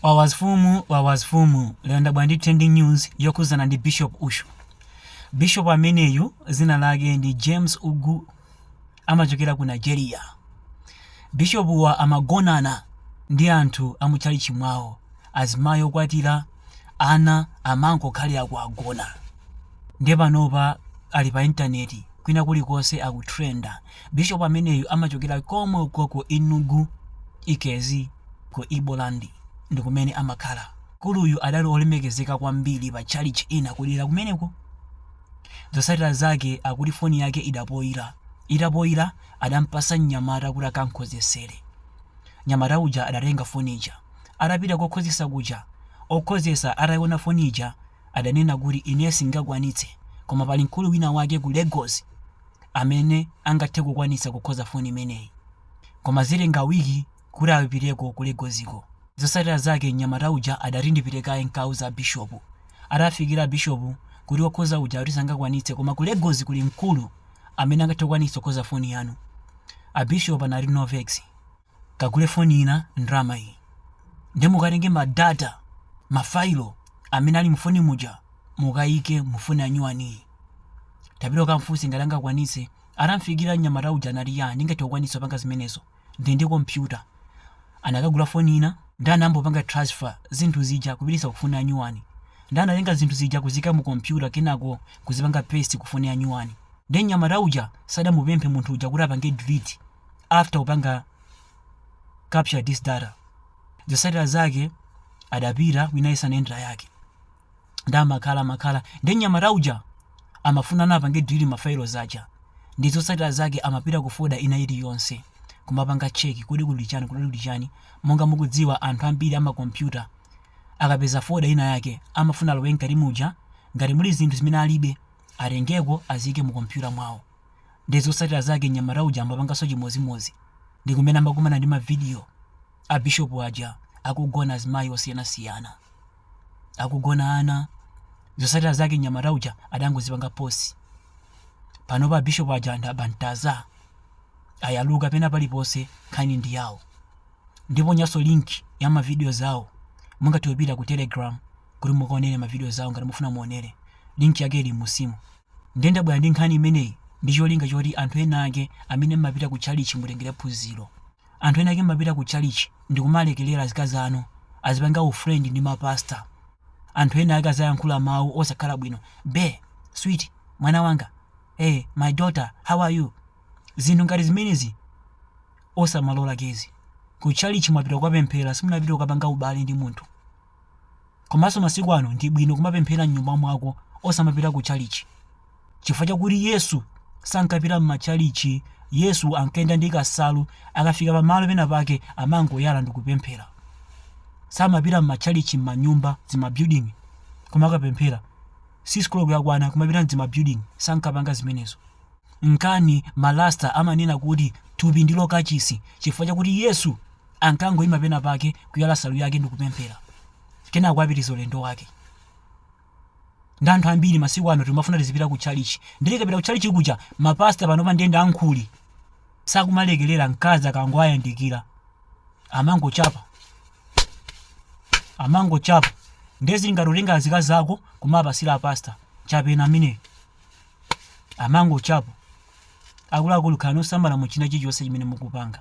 Wawazfumu wawazfumu lero ndabwera ndi trending news yokhuzana ndi Bishop Ushu. Bishop ameneyu zina lake ndi James Ugwu amachokera ku Nigeria. Bishopuwa amagonana ndi anthu a mutchalitchi mwawo azimayi okwatira ana amangokhalira kuwagona. Ndiye panopa ali pa internet kwina kulikonse akutrenda. Bishop ameneyu amachokera komwe uko ku Enugu, Ikezi, ku Igbo land ndi kumene amakhala. Mkuluyu adali olemekezeka kwambiri pa tchalitchi ina kudera kumeneko. Zotsatira zake akuti foni yake idapoila. Itapoila adampatsa mnyamata kuti akamkhozetsere. Mnyamata uja adatenga foni ija. Adapita kokhozetsa kuja, okhozetsa ataiona foni ija adanena kuti ine sindingakwanitse koma pali mkulu wina wake ku Lagos amene angathe kukwanitsa kukhoza foni imeneyi. Koma zitenga week kuti apiteko ku Lagosiko. Zotsatira zake mnyamata uja adati ndipite kaye n'kauze abishopu. Atafikira abishopu kuti wokhoza uja akuti sangakwanitse koma ku Lagos kuli mkulu amene angathe kukwanitsa kukhoza foni yanu. Abishopu anati no vex. Kagule foni ina ndalama iyi nde mukatenge ma data, ma failo amene ali mufoni muja mukaike mu foni yanyuwaniyi. Tapita ukamfunse ngati angakwanitse. Atamfikira mnyamata uja anati yaa ndingathe kukwanitsa kupanga zimenezo ndili ndi kompyuta. Anakagula foni ina nde anambopanga transfer zinthu zija kupititsa ku foni yanyuwani. Nde anatenga zinthu zija kuziika mu kompyuta kenako kuzipanga paste ku foni yanyuwani. Nde mnyamata uja sadamupemphe munthu uja kuti apange delete. after kupanga capture this data zotsatira zake adapita wina isanendera yake nde amakhala makhala ndi mnyamata uja amafuna apange delete mafailos aja nde zotsatira zake amapita ku foda ina iliyonse kumapanga cheki kodi kuli chani kodi kuli chani monga mukudziwa anthu ambiri amakompyuta akapeza foda ina yake amafuna alowe mkati muja ngati muli zinthu zimene alibe atengeko azike mu kompyuta mwawo nde zotsatira zake mnyamata uja amapanganso chimodzimodzi ndi kumene amakumana ndi mavidiyo a bishop aja akugona azimayi osiyanasiyana akugona ana zotsatira zake mnyamata uja adangozipanga post panopa bishop aja ndi abantaza ayaluka pena paliponse nkhani ndi yawo ndipo nayonso link ya mavidiyos awo mungathe kupita ku telegram kuti mukaonere mavidiyos awo ngati mufuna muonere link yake ili munsimu Ndiye ndabwera ndi nkhani imeneyi ndi cholinga choti anthu enaake amene mmapita ku tchalitchi mutengere phunziro. Anthu enaake mmapita ku tchalitchi ndikumalekelera azikazi anu azipanga u friend ndi ma pastor. Anthu enaake aziyankhula mawu osakhala bwino, Bae, sweet, mwana wanga, hey, my daughter, how are you? Zinthu ngati zimenezi osamalola guys. Ku tchalitchi mwapita kukapemphera simunapita kukapanga ubale ndi munthu. Komanso masiku ano ndi bwino kumapemphera m'nyumba mwako osamapita ku tchalichi. Chifukwa chakuti Yesu sankapita m'matchalichi, Yesu ankayenda ndi kasalu, akafika pamalo pena pake amangoyala ndikupemphera. Samapita m'matchalichi m'manyumba, dzimabuilding kumakapemphera. 6 koloko yakwana kumapita m'dzimabuilding, sankapanga zimenezo. Nkana ma Rasta amanena kuti thupi ndilo kachisi chifukwa chakuti Yesu Ankangoima penapake, kuyala nsalu yake ndi kupemphera, kenako apitiriza ulendo wake. Ndiye anthu ambiri masiku ano timafuna tizipita kutchalitchi. Ndiye tikapita kutchalitchi kuja, mapasta panopa ndiye ndi ankhuli. Sakumalekerera mkazi akangowayandikira, amangochapa amangochapa. Ndiye zili ngati utenga azikazi ako kumapatsira apasta, chapeni ameneyo, amangochapa. Akuluakulu, khalani osamala mu china chilichonse chimene mukupanga.